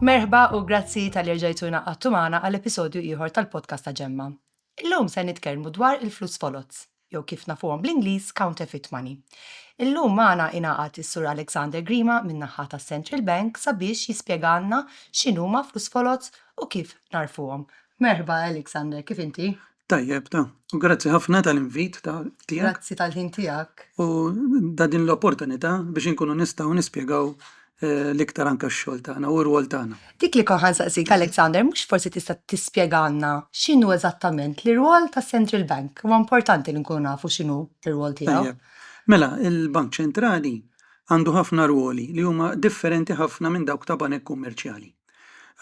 Merħba u grazzi tal erġajtuna għattu maħna għal episodju ieħor tal-podcast ta' ġemma. Illum se nitkellmu dwar il-flus foloz, jew kif nafuhom bl-Ingliż counterfeit money. Illum maħna inaqat is-Sur Alexander Grima min-naħħa ta' Central Bank sabiex jispjegalna x'inhuma flus foloz u kif narfuhom. Merħba Alexander, kif inti? Tajjeb, ta. U grazzi ħafna tal-invit tiegħek. Grazzi tal-ħin tiegħek. U da din l-opportunità biex inkunu nistgħu nispjegaw eh, l-iktar anka x-xogħol tagħna u r-rwol tagħna. Dik li konħan saqsik Alexander, mhux forsi tista' tispjegalna x'inhu eżattament l-irwol tas-Central Bank? Huwa importanti li nkunu nafu x'inhu l-irwol tiegħu. Mela, il-Bank Ċentrali għandu ħafna rwoli li huma differenti ħafna minn dawk ta' banek kummerċjali.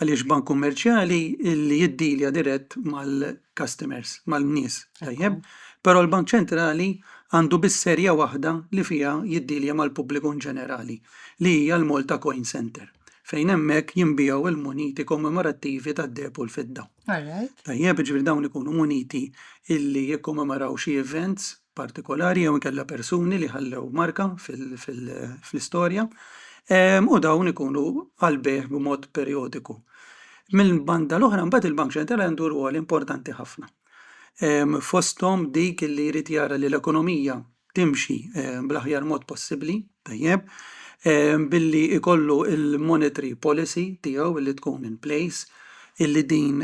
għaliex bank kummerċjali li jiddilja dirett mal-customers, mal-nies, tajjeb, però l-Bank Ċentrali għandu biss serja waħda li fiha jiddilja mal-pubbliku ġenerali, li hija l-Malta Coin Centre, fejn hemmhekk jinbiegħu l-muniti kommemorattivi tad-deheb u l-fidda. Tajjeb, jiġifieri dawn ikunu muniti li jikkommemoraw xi events partikolari jew inkella persuni li ħallew marka fl-istorja u dawn ikunu għal bejgħ b'mod perjodiku. Mill-banda l-oħra mbagħad il-Bank Ċentrali għandu rwol importanti ħafna. Fosthom dik li jrid jara li l-ekonomija timxi bl-aħjar mod possibbli, tajjeb, billi ikollu il-monetary policy tiegħu li tkun in place, illi din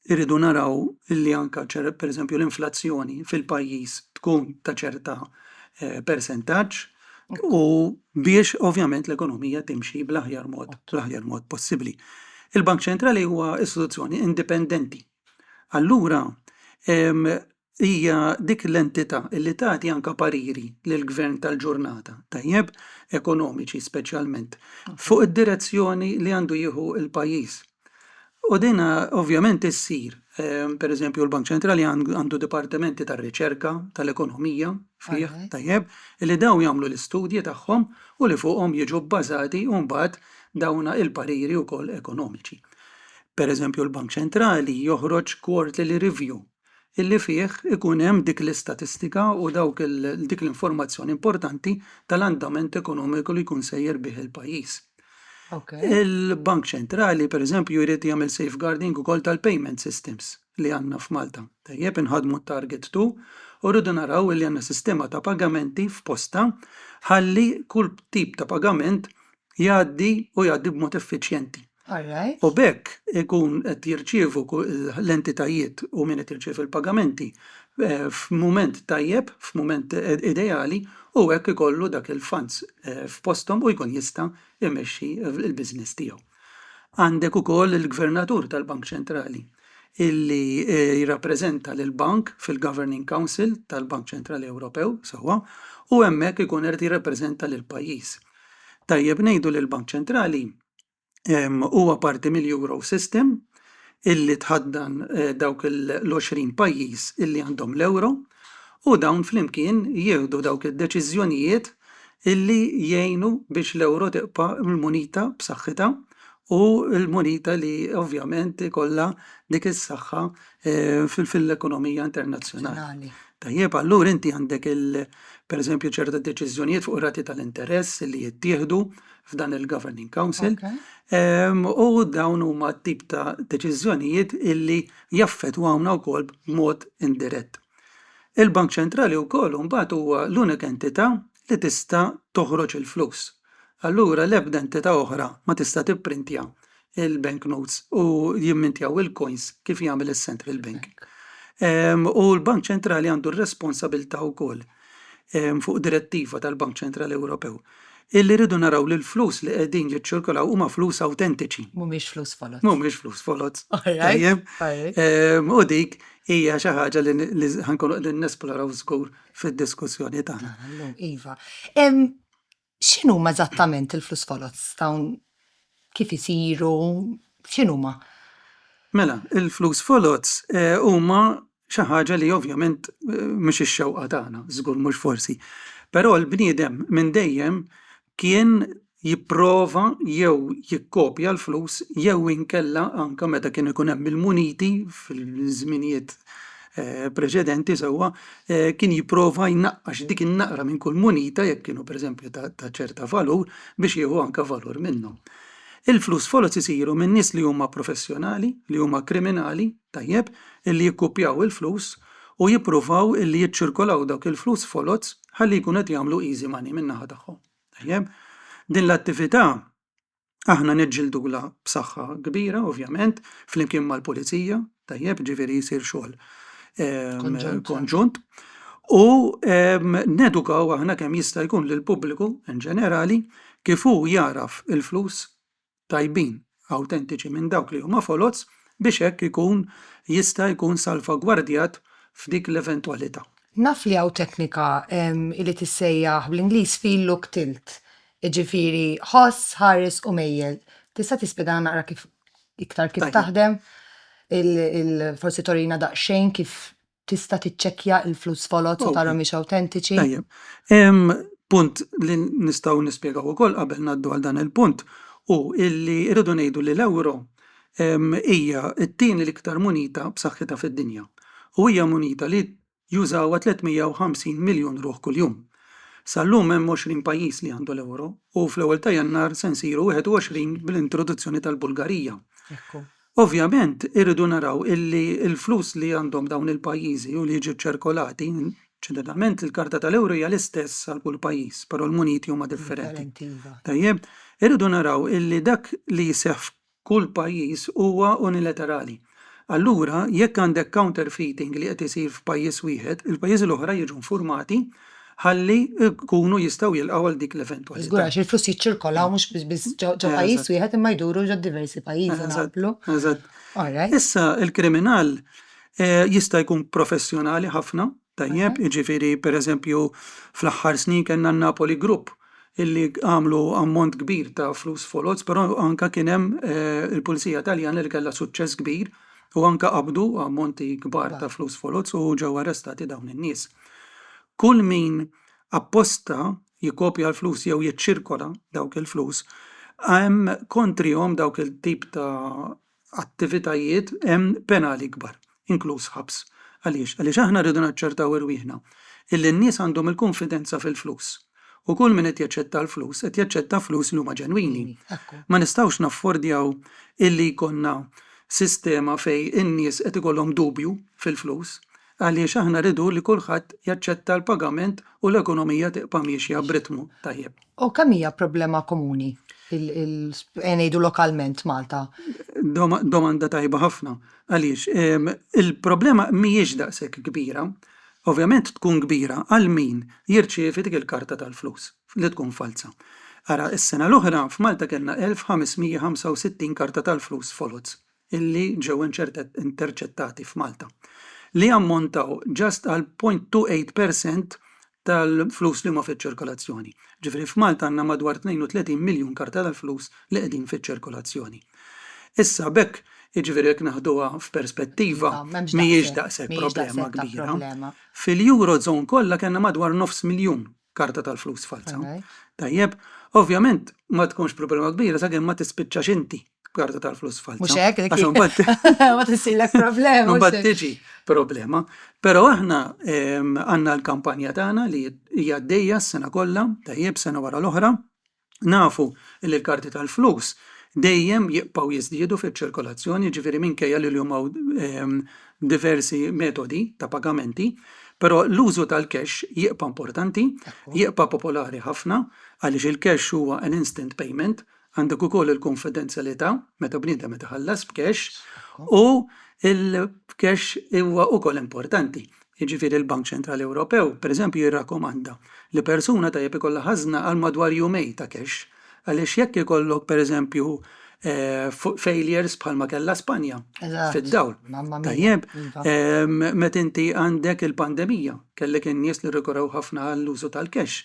Irridu naraw li anke pereżempju l-inflazzjoni fil-pajjiż tkun ta' ċerta eh, persentaġġ u biex ovvjament l-ekonomija timxi bl-aħjar mod, bl-aħjar mod possibbli. Il-Bank Ċentrali huwa istituzzjoni indipendenti. Allura, hija dik l-entità li tagħti anke pariri lill-gvern tal-ġurnata, tajjeb, ekonomiċi speċjalment, fuq id-direzzjoni li għandu jieħu l-pajjiż. U din ovvjament issir, pereżempju l-Bank Ċentrali għandu dipartimenti tar-riċerka tal-ekonomija fih, tajjeb, li dawn jagħmlu l-istudji tagħhom u li fuqhom jiġu bbażati mbagħad dawn il-pariri wkoll ekonomiċi. Pereżempju l-Bank Ċentrali joħroġ quarterly review illi fih ikun hemm dik l-istatistika u dawk dik l-informazzjoni importanti tal-andament ekonomiku li jkun sejjer bih il-pajjiż. Okay. Il-Bank Ċentrali, per eżempju, jrid jagħmel safeguarding ukoll tal-payment systems li għandna f'Malta. Tajjeb inħadmu target 2 u rridu naraw li għandna sistema ta' pagamenti f'posta ħalli kull tip ta' pagament jgħaddi u jgħaddi b'mod effiċjenti. u b'hekk ikun qed jirċievu l-entitajiet u min qed jirċievi l-pagamenti f'mument tajjeb, f'mument ideali u hekk ikollu dak il-funds f'posthom u jkun jista' jmexxi l-business tiegħu. Għandek ukoll il-Gvernatur tal-Bank Ċentrali illi jirrappreżenta lill-Bank fil-Governing Council tal-Bank Ċentrali Ewropew sewwa u hemmhekk ikun irid jirrappreżenta lill-pajjiż. Tajjeb ngħidu li l-Bank Ċentrali huwa parti mill-Eurosystem illi tħaddan dawk l-20 pajjiż illi għandhom l-euro u dawn flimkien jieħdu dawk id-deċiżjonijiet illi jgħinu biex l-euro tibqa' l-munita b'saħħitha u l-munita li ovvjament ikollha dik is-saħħa fl-ekonomija internazzjonali. Tajjeb, allura inti għandek pereżempju ċerti deċiżjonijiet fuq ir-rati tal-interess li jittieħdu f'dan il-Governing Council u dawn huma tip ta' deċiżjonijiet illi jaffetwawna wkoll b'mod indirett. Il-Bank Ċentrali wkoll mbagħad huwa l-unika entità li tista' toħroġ il-flus. Allura l-ebda entità oħra ma tista' tipprintja il-bank notes u jimmintjaw il-coins kif jagħmel is-central bank. Ehm, u l-Bank Ċentrali għandu r-responsabilta wkoll ehm, fuq direttiva tal-Bank Ċentrali Ewropew illi rridu naraw li l-flus li qegħdin jiċċirkolaw huma flus awtentiċi. Mhumiex flus foloz. Mhumiex flus foloz. Tajjeb. Ehm, u dik hija xi ħaġa li ħankun qegħdin nesploraw żgur fid-diskussjoni tagħna. Iva. X'inhuma eżattament il-flus foloz ta' hawn kif isiru, x'inhuma? Mela, il-flus foloz huma xi ħaġa li ovvjament mhux ix-xewqa tagħna, żgur mhux forsi. Però l-bniedem minn dejjem kien jipprova jew jikkopja l-flus jew inkella anke meta kien ikun hemm il-muniti fil-żminijiet preċedenti sewwa kien jipprova jnaqqax dik in-naqra minn kull munita jekk kienu pereżempju ta' ta' ċerta valur biex jieħu anke valur minnhom. Il-flus foloz isiru minn nies li huma professjonali, li huma kriminali, tajjeb, illi jikkupjaw il-flus u jippruvaw illi jiċċirkolaw dawk il-flus foloz ħalli jkunu qed jagħmlu easy money min-naħa tagħhom. Tajjeb? Din l-attività Aħna niġġildulha b'saħħa kbira, ovvjament, flimkien mal-pulizija, tajjeb, ġifieri jsir xogħol ehm, konġunt. U ehm, nedukaw aħna kemm jista' jkun lill pubbliku in ġenerali kif hu jaraf il-flus tajbin awtentiċi minn dawk li huma foloz biex hekk ikun jista' jkun salvagwardjat f'dik l-eventwalità. Naf li hawn teknika ehm, li tissejjaħ bl-Ingliż feel look tilt Jiġifieri ħoss, ħares u mejjel. Tista' tispjegana naqra kif iktar kif taħdem? Forsi turina daqsxejn kif tista' tiċċekkja l-flus foloz u tara mhumiex awtentiċi? Tajjeb. Hemm punt li nistgħu nispjegaw ukoll qabel ngħaddu għal dan il-punt hu li rridu ngħidu li l-ewro hija t-tieni l-iktar munita b'saħħitha fid-dinja u hija munita li jużawha 350 miljun ruħ kuljum. Sal-lum hemm 20 pajjiż li għandu l-euro u fl-ewwel ta' Jannar se nsiru 21 bl-introduzzjoni tal-Bulgarija. Ovvjament irridu naraw illi l-flus li għandhom dawn il-pajjiżi u li jiġu ċċirkolati, ġeneralment il-karta tal-euro hija l-istess għal kull pajjiż, però l-muniti huma differenti. Tajjeb, irridu naraw illi dak li jseħħ Kull pajjiż huwa unilaterali. Allura, jekk għandek counterfeiting li qed isir f'pajjiż wieħed, il-pajjiżi l-oħra jiġu nfurmati ħalli jkunu jistgħu jilqgħu għal dik l-eventwalità. Żgur, għax il-flus jiċċirkolaw mhux biss ġo pajjiż wieħed imma jduru ġo diversi pajjiżi naqblu? Eżatt. Issa, il-kriminal jista' jkun professjonali ħafna Tajjeb, jiġifieri pereżempju fl-aħħar snin kellna n-Napoli Group illi għamlu ammont kbir ta' flus foloz, però anke kien hemm il-Pulizija Taljana li kellha suċċess kbir u anke qabdu ammonti kbar ta' flus foloz u ġew arrestati dawn in-nies. Kull min apposta jikkopja l-flus jew jiċċirkola dawk il-flus hemm kontrihom dawk il-tip ta' attivitajiet hemm penali ikbar, inkluż ħabs. Għaliex? Għaliex aħna rridu naċċertaw irwieħna illi n-nies għandhom il-kunfidenza fil-flus. U kull min qed jaċċetta l-flus, qed jaċċetta flus li huma ġenwini. Ma nistgħux naffordjaw illi jkollna sistema fejn in-nies qed ikollhom dubju fil-flus. Għaliex aħna rridu li kulħadd jaċċetta l-pagament u l-ekonomija tibqa' miexja b'ritmu tajjeb. U kemm hija problema komuni, ejja ngħidu lokalment, Malta? Domanda tajba ħafna. Għaliex, il-problema mhijiex daqshekk kbira. Ovvjament tkun kbira għal min jirċievi dik il-karta tal-flus li tkun falza. Ara, is-sena l-oħra f'Malta kellna 1,565 karta tal-flus foloz. illi ġew interċettati f'Malta, li jammontaw just għal 0.28 per cent tal-flus li huma fiċ-ċirkolazzjoni. Ġifieri f'Malta għandna madwar 32 miljun karta tal-flus li qegħdin fiċ-ċirkolazzjoni. Issa b'hekk jiġifieri jekk naħduha f'perspettiva Iva, m'hemmx mhijiex daqshekk, daqshekk mhijiex problema daqshekk ta' kbira. problema. Fil-Eurozone kollha kellna madwar nofs miljun karta tal-flus falza. Tajjeb, ovvjament ma tkunx problema kbira sakemm ma tispiċċax inti karta tal-flus falza. Mhux hekk, għax imbagħad ma tisillek problema. Imbagħad tiġi problema. Però aħna għandna l-kampanja tagħna li hija għaddejja s-sena kollha, tajjeb sena wara l-oħra, Nafu li l-karti tal-flus dejjem jibqgħu jiżdiedu fiċ-ċirkolazzjoni, jiġifieri minkejja li llum hawn diversi metodi ta' pagamenti, però l-użu tal-cash jibqa' importanti, jibqa' popolari ħafna għaliex il-cash huwa an instant payment, għandek ukoll il-kunfidenzjalità meta bniedem qed iħallas b'cash u l-cash huwa wkoll importanti jiġifieri l-Bank Ċentrali Ewropew, pereżempju, jirrakkomanda li persuna tajjeb ikollha ħażna għal madwar jumejn ta' cash, għaliex jekk ikollok, pereżempju, failures bħalma kellha Spanja, fid-dawl, tajjeb, meta inti għandek il-pandemija, kellek in-nies li rrikorrew ħafna għall-użu tal-cash,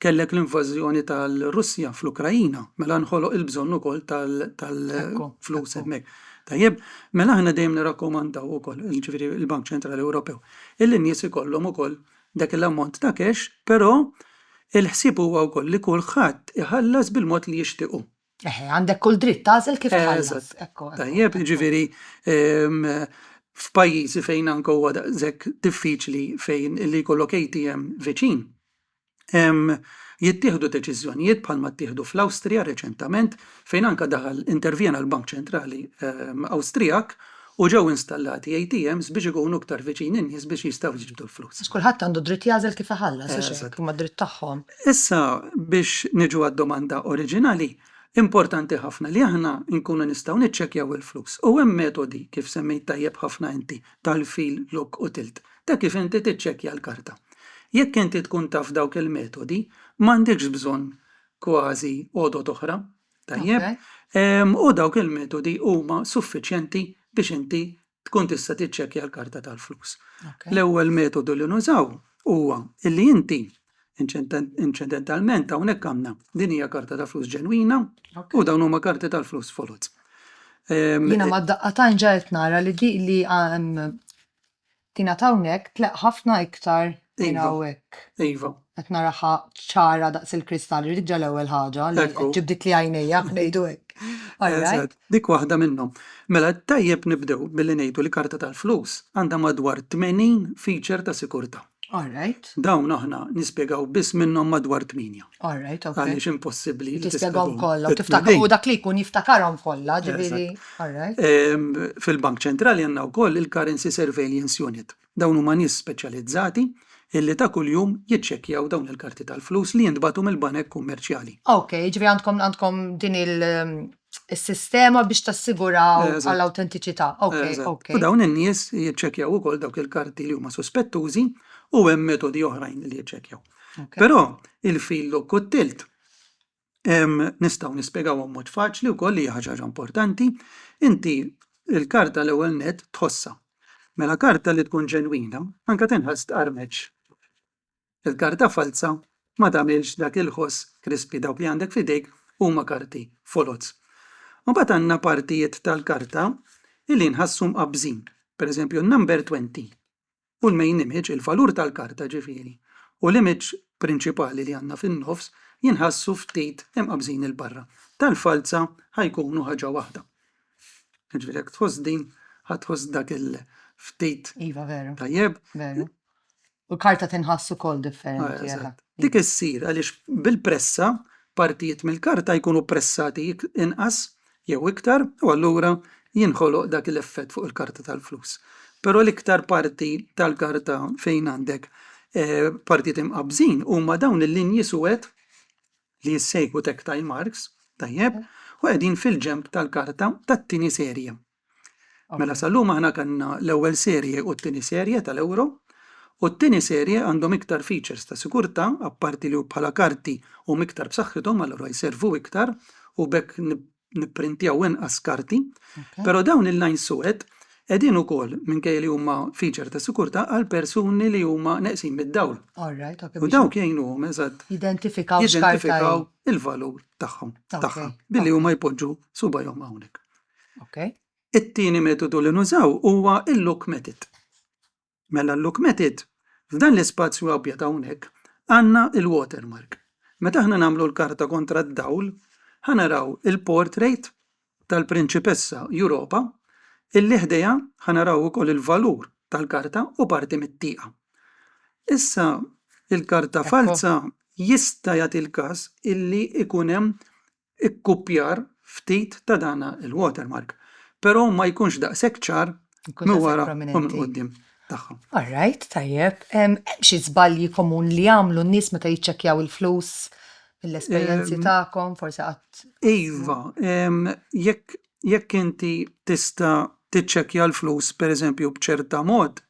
kellek l-invażjoni tal-Russja fl-Ukraina, mela nħoloq il-bżonn ukoll tal-flus hemmhekk. Tajjeb, mela aħna dejjem nirrakkomandaw ukoll, ġifieri l-Bank Ċentrali Ewropew, illi n-nies ikollhom ukoll dak il-ammont ta' cash, però il-ħsieb huwa wkoll li kulħadd iħallas bil-mod li jixtiequ. Eħe, għandek kull dritt tagħżel kif tħallas. Tajjeb, ġifieri f'pajjiżi fejn anke huwa daqshekk diffiċli fejn li jkollok ATM viċin, jittieħdu deċiżjonijiet bħalma ttieħdu fl-Awstrija reċentament fejn anke daħal intervjena l-Bank Ċentrali Awstrijak u ġew installati ATMs biex ikunu iktar viċin in-nies biex jistgħu jiġbdu l-flus. Għax kulħadd għandu d-dritt jagħżel kif iħallas, hux hekk? Huma d-dritt tagħhom. Issa biex niġu għad-domanda oriġinali, importanti ħafna li aħna nkunu nistgħu niċċekkjaw il-flus u hemm metodi, kif semmejt tajjeb ħafna inti, tal-fil, lock u tilt. ta' kif inti tiċċekkja l-karta. Jekk inti tkun taf dawk il-metodi, m'għandekx bżonn kważi għodod oħra, tajjeb? U dawk il-metodi huma suffiċjenti biex inti tkun tista' tiċċekkja l-karta tal-flus. L-ewwel metodu li nużaw huwa li inti inċidentalment hawnhekk għandna din hija karta ta' flus ġenwina u dawn huma karti tal-flus foloz. Jiena ma' daqqa ta' ġa qed nara li di li kienet hawnhekk tleqq ħafna iktar minn hawnhekk. Iva. Qed naraha ċara daqs il-kristall, irrid ġa l-ewwel ħaġa li qed ġibditli għajnejja, ngħidu hekk. Eżatt, dik waħda minnhom. Mela tajjeb nibdew billi ngħidu li karta tal-flus għandha madwar 80 feature ta' sikurtà. All right. Dawn aħna nispjegaw biss minnhom madwar tminja. All right, ok. Għaliex impossibbli. Tispjegaw kollha, tiftakar u dak li jkun jiftakarhom kollha, ġifieri. All right. Ehm, Fil-Bank Ċentrali għandna wkoll il-Currency Surveillance Unit. Dawn huma nies speċjalizzati illi ta' kuljum jiċċekkjaw dawn il-karti tal-flus li jintbatu mill-banek kummerċjali. Ok, ġifieri għandkom għandkom din il- is-sistema biex tassiguraw Eżatt. għall-awtentiċità. Ok, Eżatt. ok. U dawn in-nies jiċċekkjaw ukoll dawk il-karti li huma suspettużi u hemm metodi oħrajn li jiċċekkjaw. Ok. Però il-fil u kottilt em, nistgħu nispjegawhom mod faċli wkoll li hija ħaġa ħaġa importanti. Inti l-karta l-ewwel net tħossha. Mela karta li tkun ġenwina, anke tinħass tqarmeġ. Il-karta falza ma tagħmilx dak il-ħoss krispi, dawk li għandek f'idejk huma karti foloz. Imbagħad għandna partijiet tal-karta li nħassu mqabbżin, pereżempju n-number 20 u l-main image, il-valur tal-karta ġifieri, u l-image prinċipali li għandna fin-nofs jinħassu ftit imqabbżin 'il barra. Tal-falza ħa jkunu ħaġa waħda. Ġifieri jekk tħoss din, ħa tħoss dak il-ftit. Iva veru. Tajjeb. Veru. U l-karta tinħass ukoll differenti. Ah, Dik issir għaliex bil-pressa partijiet mill-karta jkunu pressati inqas jew iktar u allura jinħoloq dak l-effett fuq il-karta tal-flus. Però l-iktar parti tal-karta fejn għandek eh, partijiet imqabżin huma dawn il-linji suwed li jissejħu tactile marks, tajjeb, u qegħdin fil-ġemp tal-karta tat-tieni serje. Mela sal-lum aħna kellna l-ewwel serje u t-tieni serje tal-Euro u t-tieni serje għandhom iktar features ta' sigurtà apparti li bħala karti huma iktar b'saħħithom allura jservu iktar u b'hekk nipprintjaw inqas karti. Però dawn il-lines suwed qegħdin ukoll minkejja li huma feature ta' sigurtà għal persuni li huma neqsin mid-dawl. U dawk jgħinuhom eżatt jidentifikaw il-valur tagħhom tagħha billi huma jpoġġu subajhom hawnhekk. Okay. It-tieni metodu li nużaw huwa il-look method. Mela l-look method, f'dan l-ispazju abjad hawnhekk, għandna il-watermark. Meta aħna nagħmlu l-karta kontra d-dawl, ħanaraw il-portrait tal-prinċipessa Europa, illi ħdejha ħanaraw ukoll il-valur tal-karta u parti mit-tieqa. Issa il-karta falza jista' jagħti l-każ illi ikun hemm ikkupjar ftit ta' dan il-watermark, però ma jkunx daqshekk ċar minn wara u minn quddiem tagħha. All right, tajjeb. Hemm xi żbalji komun li jagħmlu n-nies meta jiċċekkjaw il-flus mill-esperjenzi tagħkom, forsi qatt? Iva, jekk jekk inti tista' tiċċekkja l-flus pereżempju b'ċerta mod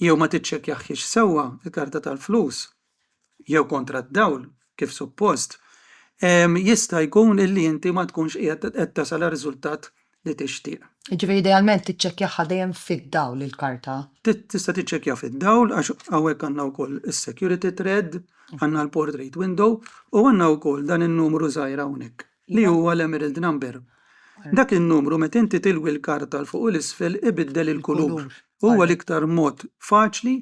jew ma tiċċekkjahiex sewwa l-karta tal-flus, jew kontra d-dawl kif suppost, jista' jkun illi inti ma tkunx qiegħed qed tasal għar-riżultat li tixtieq. Jiġifieri idealment tiċċekkjahha dejjem fid-dawl il-karta. Tista' tiċċekkja fid-dawl għax hawnhekk għandna wkoll is-security thread, għandna l-portrait window u għandna wkoll dan in-numru żgħir hawnhekk. li huwa l-emerald number. Dak in-numru meta inti tilwi l-karta 'l fuq u 'l isfel ibiddel il-kulur. Huwa l-iktar mod faċli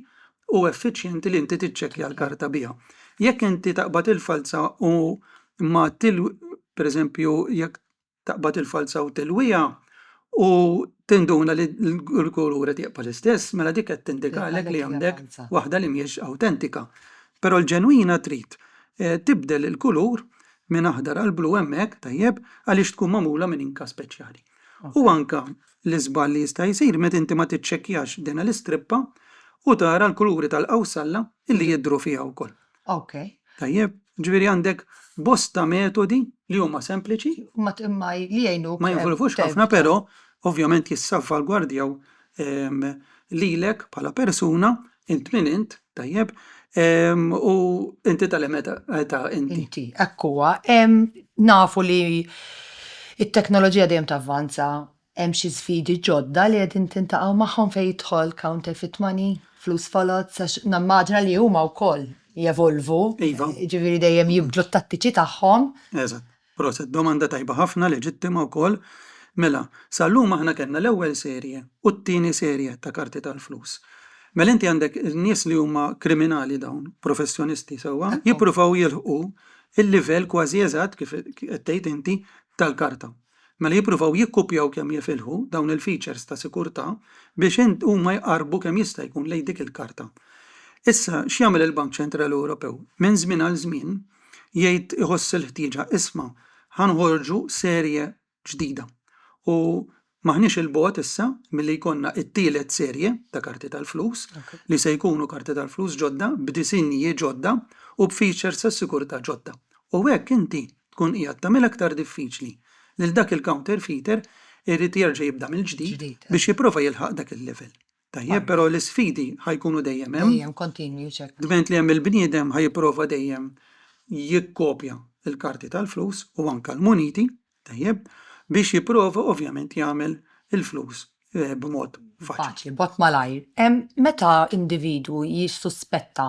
u effiċjenti li inti tiċċekkja l-karta biha. Jekk inti taqbad il-falza u ma per eżempju jekk taqbad il-falza u tilwiha u tinduna li l-kulur qed jibqa' l-istess, mela dik qed tindikalek li għandek waħda li mhijiex awtentika. Però l-ġenwina trid tibdel il-kulur minn aħdar għal blu hemmhekk, tajjeb, għaliex tkun magħmula minn inka speċjali. U anke l-iżball li jista' jsir meta inti ma tiċċekkjax dina l-istrippa u tara l-kuluri tal-qawsalla li jidhru fiha wkoll. Okej. Tajjeb? Ġifieri għandek bosta metodi li huma sempliċi. Imma li jgħinuk. Ma jinvolvux ħafna, però ovvjament jissalvagwardjaw lilek bħala persuna, int min int, tajjeb, u inti ta' liema età inti. Inti, hekk huwa. Nafu li t-teknoloġija dejjem tavvanza, hemm xi sfidi ġodda li qegħdin tintaqgħu magħhom fejn jidħol counterfeit money, flus foloz, għax nimmaġina li huma wkoll jevolvu, jiġifieri dejjem jibdlu t-tattiċi tagħhom. Eżatt. Proset, domanda tajba ħafna, leġittima wkoll. Mela, sal-lum aħna kellna l-ewwel serje u t-tieni serje ta' karti tal-flus. Mela inti għandek nies li huma kriminali dawn, professjonisti sewwa, jippruvaw jilħqu l-livell kważi eżatt kif qed tgħid inti tal-karta. Mela jippruvaw jikkupjaw kemm jifilħu dawn il-features ta' sikurtà biex huma jqarrbu kemm jista' jkun lejn dik il-karta. Issa x'jagħmel il-Bank Ċentrali Ewropew? Minn żmien għal żmien, jgħid iħoss il-ħtieġa isma' ħa nħorġu serje ġdida u m'aħniex 'il bogħod issa milli jkollna t-tielet serje ta' karti tal-flus li se jkunu karti tal-flus ġodda b'disinji ġodda u b'features ta' sigurtà ġodda u hekk inti tkun qiegħed tagħmilha aktar diffiċli lil dak il-counterfeiter irid jerġa' jibda mill-ġdid biex jipprova jilħaq dak il-level. Tajjeb, però l-isfidi ħajkunu dejjem hemm. Dejjem kontinwi ċek. Dment li hemm il-bniedem ħajprova dejjem jikkopja l-karti tal-flus u anke l-muniti, tajjeb, biex jipprova ovvjament jagħmel il-flus eh, b'mod faċli. Faċli, bot malajr. Em, meta individwu jissuspetta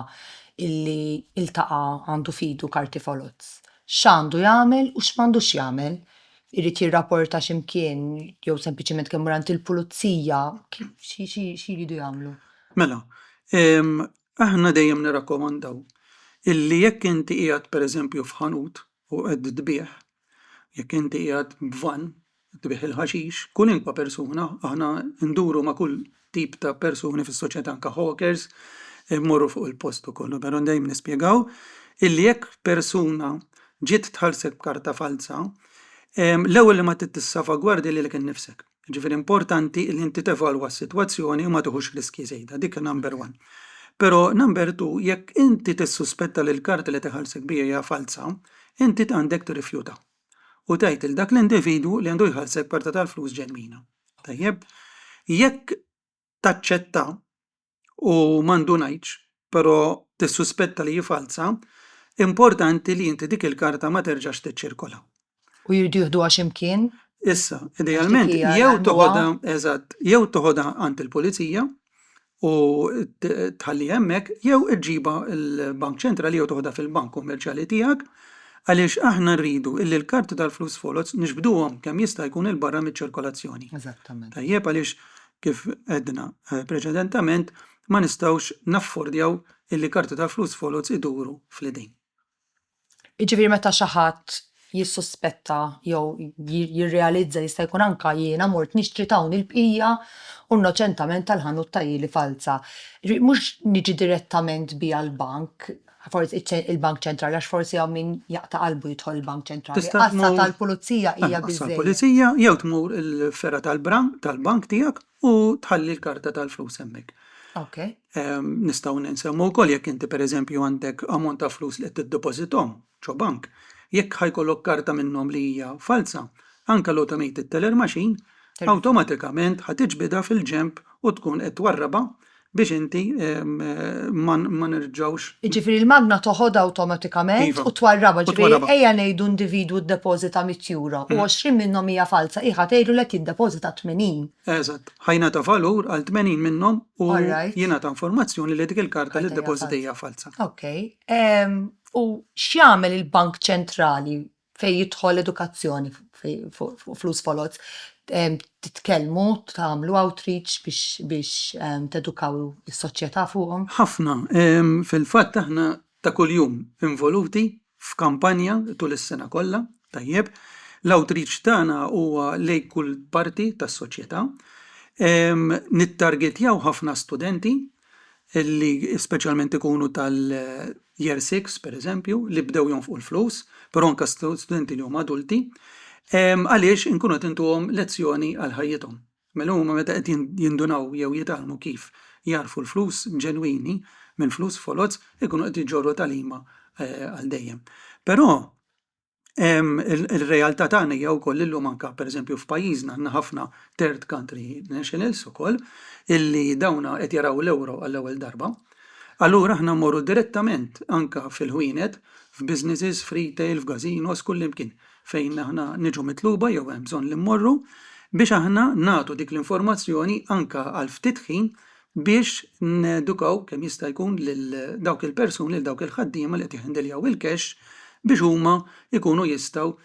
illi iltaqa għandu fidu karti foloz, x'għandu jagħmel u x'm'għandux jagħmel irid jirrapporta xi mkien jew sempliċement kemm mur għand il-pulizija, x'iridu jagħmlu? Mela, aħna dejjem nirrakkomandaw illi jekk inti qiegħed pereżempju f'ħanut u qed tbigħ, jekk inti qiegħed b'vann tbigħ il-ħaxix, kulinkwa persuna, aħna nduru ma' kull tip ta' persuni fis-soċjetà anke hawkers imorru fuq il-post ukoll. U dan dejjem nispjegaw illi jekk persuna ġiet tħallsek b'karta falza, l-ewwel li ma trid tissalvagwardja lilek innifsek. Jiġifieri importanti li inti tevalwa s-sitwazzjoni u ma tieħux riskji żejda, dik number one. Però number two, jekk inti tissuspetta li l-karta li tiħallsek biha hija falza, inti għandek tirrifjuta. u tgħid lil dak l-individwu li għandu jħallsek parti tal-flus ġenwina. Tajjeb? Jekk taċċetta u ma ndunajtx, però tissuspetta li hi falza, importanti li inti dik il-karta ma terġax tiċċirkola. U jridu jieħduha xi mkien? Issa, idealment, jew toħodha, eżatt, jew toħodha għand il-pulizija, u tħalliha hemmhekk jew iġġibha l-bank ċentrali jew toħodha fil-bank kummerċjali tiegħek għaliex aħna rridu illi l-karti tal-flus foloz nixbduhom kemm jista' jkun il barra miċ-ċirkolazzjoni. Eżattament. Tajjeb għaliex kif għedna eh, preċedentament ma nistgħux naffordjaw illi karti tal-flus foloz iduru fl-idejn. Jiġifieri meta xi ħadd jissuspetta jew jirrealizza jista' jkun anke jiena mort nixtri ta' hawn il-bqija u nnoċentament tal-ħanut tagħhili falza. Ġifieri mhux niġi direttament biha l-bank, forsi il-bank ċentrali għax forsi hawn min jaqta' qalbu jidħol il-bank ċentrali. Tista' tmur. Għassa tal-pulizija hija biżżejjed. Għassa tal-pulizija jew tmur il-fergħa tal-bank tiegħek u tħalli l-karta tal-flus hemmhekk. Ok. Ehm, nistgħu ninsemmu wkoll jekk inti pereżempju għandek ammont ta' flus li qed tiddepożithom ġo bank, jekk ħajkollok karta minnhom li hija falza, anke l-automated teller machine Awtomatikament ħa tiġbidha fil-ġenb u tkun qed twarrabha biex inti ma nerġgħux. Jiġifieri l-magna toħodha awtomatikament u twarrabha, ġifieri ejja ngħidu individwu ddepożita 100 euro u 20 minnhom hija falza, hi ħa tgħidlu li qed jiddepożita 80. Eżatt, ħa jingħata valur għal 80 minnhom u jingħata informazzjoni li dik il-karta li ddepożita hija falza. Okej. U x'jagħmel il-Bank Ċentrali fejn jidħol edukazzjoni fuq flus foloz, titkellmu, tagħmlu outreach biex tedukaw is-soċjetà fuqhom? Ħafna. Fil-fatt aħna ta' kuljum involuti f'kampanja tul is-sena kollha, tajjeb. L-outreach tagħna huwa lejn kull parti tas-soċjetà. Nittargetjaw ħafna studenti li speċjalment ikunu tal-year six, pereżempju, li bdew jonfqu l-flus, però anke studenti li huma adulti, għaliex inkunu qed intuhom lezzjoni għal ħajjithom. Mela huma meta qed jindunaw jew jitgħallmu kif jagħrfu l-flus ġenwini minn flus foloz, ikunu qed jġorru tagħlima eh, għal dejjem. Però Ir-realtà tagħna hija wkoll illum anke pereżempju f'pajjiżna għandna ħafna third country nationals ukoll illi dawna qed jaraw l-ewro għall-ewwel darba. Allura aħna mmorru direttament anke fil-ħwienet, f'businesses, f'retail, f'gażinos, kullimkien fejn aħna niġu mitluba jew hemm bżonn li mmorru biex aħna nagħtu dik l-informazzjoni anke għal ftit ħin biex nedukaw kemm jista' jkun lil dawk il-persuni, lil dawk il-ħaddiema li qed jihhandiljaw il-cash biex huma jkunu jistgħu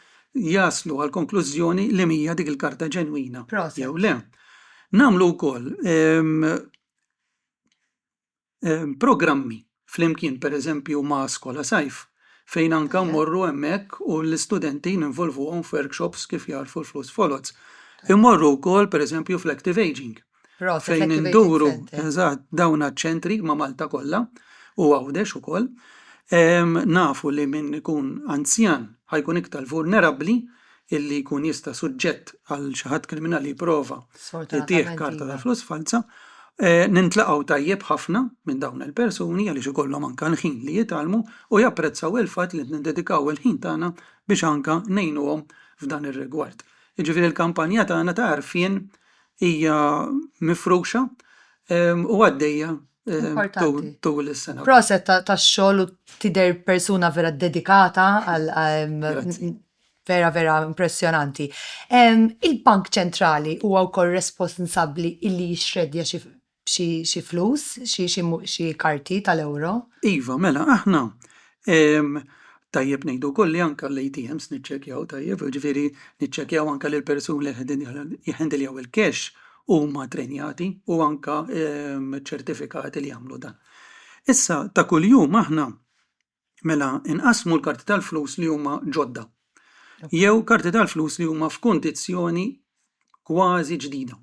jaslu għall-konklużjoni li mhija dik il-karta ġenwina jew le. Nagħmlu wkoll programmi flimkien pereżempju ma' Skola Sajf fejn anke mmorru hemmhekk u l-istudenti ninvolvuhom f'workshops kif jagħrfu l-flus foloz. Immorru wkoll pereżempju fl-Active Ageing fejn induru eżatt dawn ċ-ċentri ma' Malta kollha u Għawdex ukoll. Nafu li min ikun anzjan ħa jkun iktar vulnerabbli illi jkun jista' suġġett għal xi ħadd kriminali jipprova jtih Sfortunatament karta ta' iva. flus falza. Eh, Nintlaqgħu tajjeb ħafna minn dawn il-persuni għaliex ikollhom anke l-ħin li jitgħallmu u japprezzaw il-fatt li qed niddedikaw il-ħin tagħna biex anke ngħinuhom f'dan ir-rigward. Jiġifieri l-kampanja tagħna ta' għarfien hija mifruxa em, u għaddejja em, tul Importanti. tul is-sena. Proset ta- tax-xogħol u tidher persuna vera dedikata għal għal- Grazzi. vera vera impressjonanti. Il-Bank Ċentrali huwa wkoll responsabbli illi jixxreddja xi flus, xi karti tal-euro. Iva, mela aħna tajjeb ngħidu wkoll li anke l-ATMs niċċekkjaw tajjeb, ġifieri niċċekkjaw anke lil persun li jħendiljaw il-cash huma trenjati u anke ċertifikati li jagħmlu dan. Issa ta' kuljum aħna Mela nqassmu l-karti tal-flus li huma ġodda jew karti tal-flus li huma f'kundizzjoni kważi ġdida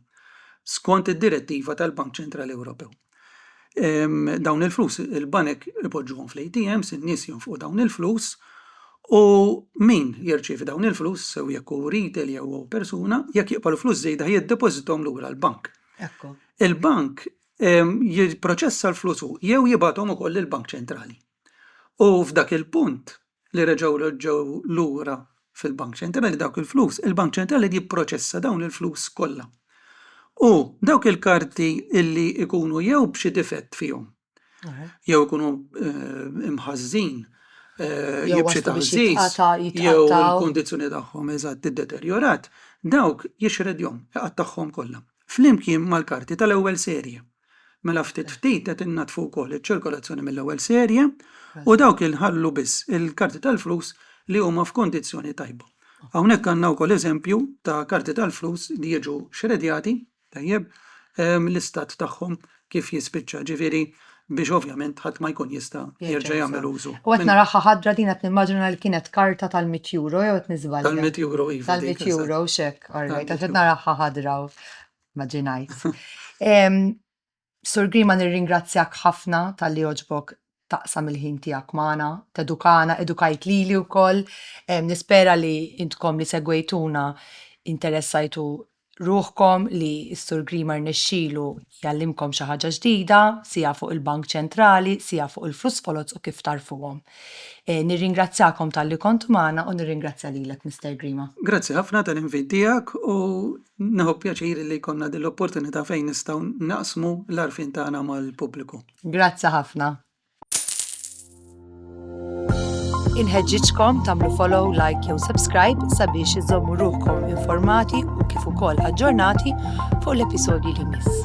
skont id-direttiva tal-Bank Ċentrali Ewropew. Ehm, dawn il-flus il-banek ipoġġuhom fl-ATMs, in-nies jonfqu dawn il-flus u min jirċievi dawn il-flus sew jekk hu retail jew hu persuna jekk jiqbalu flus żejda jiddepożitom lura l-bank. Ekku. Il-bank jipproċessa l-flus hu jew jibgħathom ukoll lill-Bank Ċentrali. U f'dak il-punt li reġgħu reġgħu lura fil-Bank Ċentrali dawk il-flus, il-Bank Ċentrali jipproċessa dawn il-flus kollha. U dawk il-karti illi jkunu jew b'xi difett fihom, jew ikunu eh, mħażżin eh, jew b'xi taħżiż, jew il-kondizzjoni tagħhom eżatt iddeterjorat, dawk jixredjhom, iqattagħhom kollha. flimkien mal-karti tal-ewwel serje. Mela ftit ftit qed innaddfu wkoll iċ-ċirkolazzjoni mill-ewwel serje u dawk inħallu biss il-karti tal-flus li huma f'kundizzjoni tajba. Hawnhekk għandna wkoll eżempju ta' karti tal-flus li jiġu xredjati, tajjeb, l-istat tagħhom kif jispiċċa, ġifieri biex ovvjament ħadd ma jkun jista' jerġa' jagħmel użu. U qed naraha ħadra din qed nimmaġina li kienet karta tal-mitt euro jew qed niżbalja? Tal-mitt euro iva. Tal-mitt euro x'hekk orrejt għax qed naraha ħadra u mmaġinajt. Sur Grima nirringrazzjak ħafna talli għoġbok taqsam il-ħin tiegħek magħna, tedukana, edukajt lili wkoll. Nispera li intkom li segwejtuna interessajtu ruħkom li s-Sur Grima rnexxielu jgħallimkom xi ħaġa ġdida, sija fuq il-Bank Ċentrali, sija fuq il-flus foloz u kif tagħrfuhom. Eh, nirringrazzjakom talli kontu magħna u nirringrazzja lilek Mr. Grima. Grazzi ħafna tal-invit tiegħek u neħu pjaċir li konna din l-opportunità fejn nistgħu naqsmu l-arfin tagħna mal-pubbliku. Grazzi ħafna. Inħeġġiġkom tagħmlu follow, like jew subscribe sabiex iżommu ruħkom informati u kif ukoll aġġornati fuq l-episodji li miss.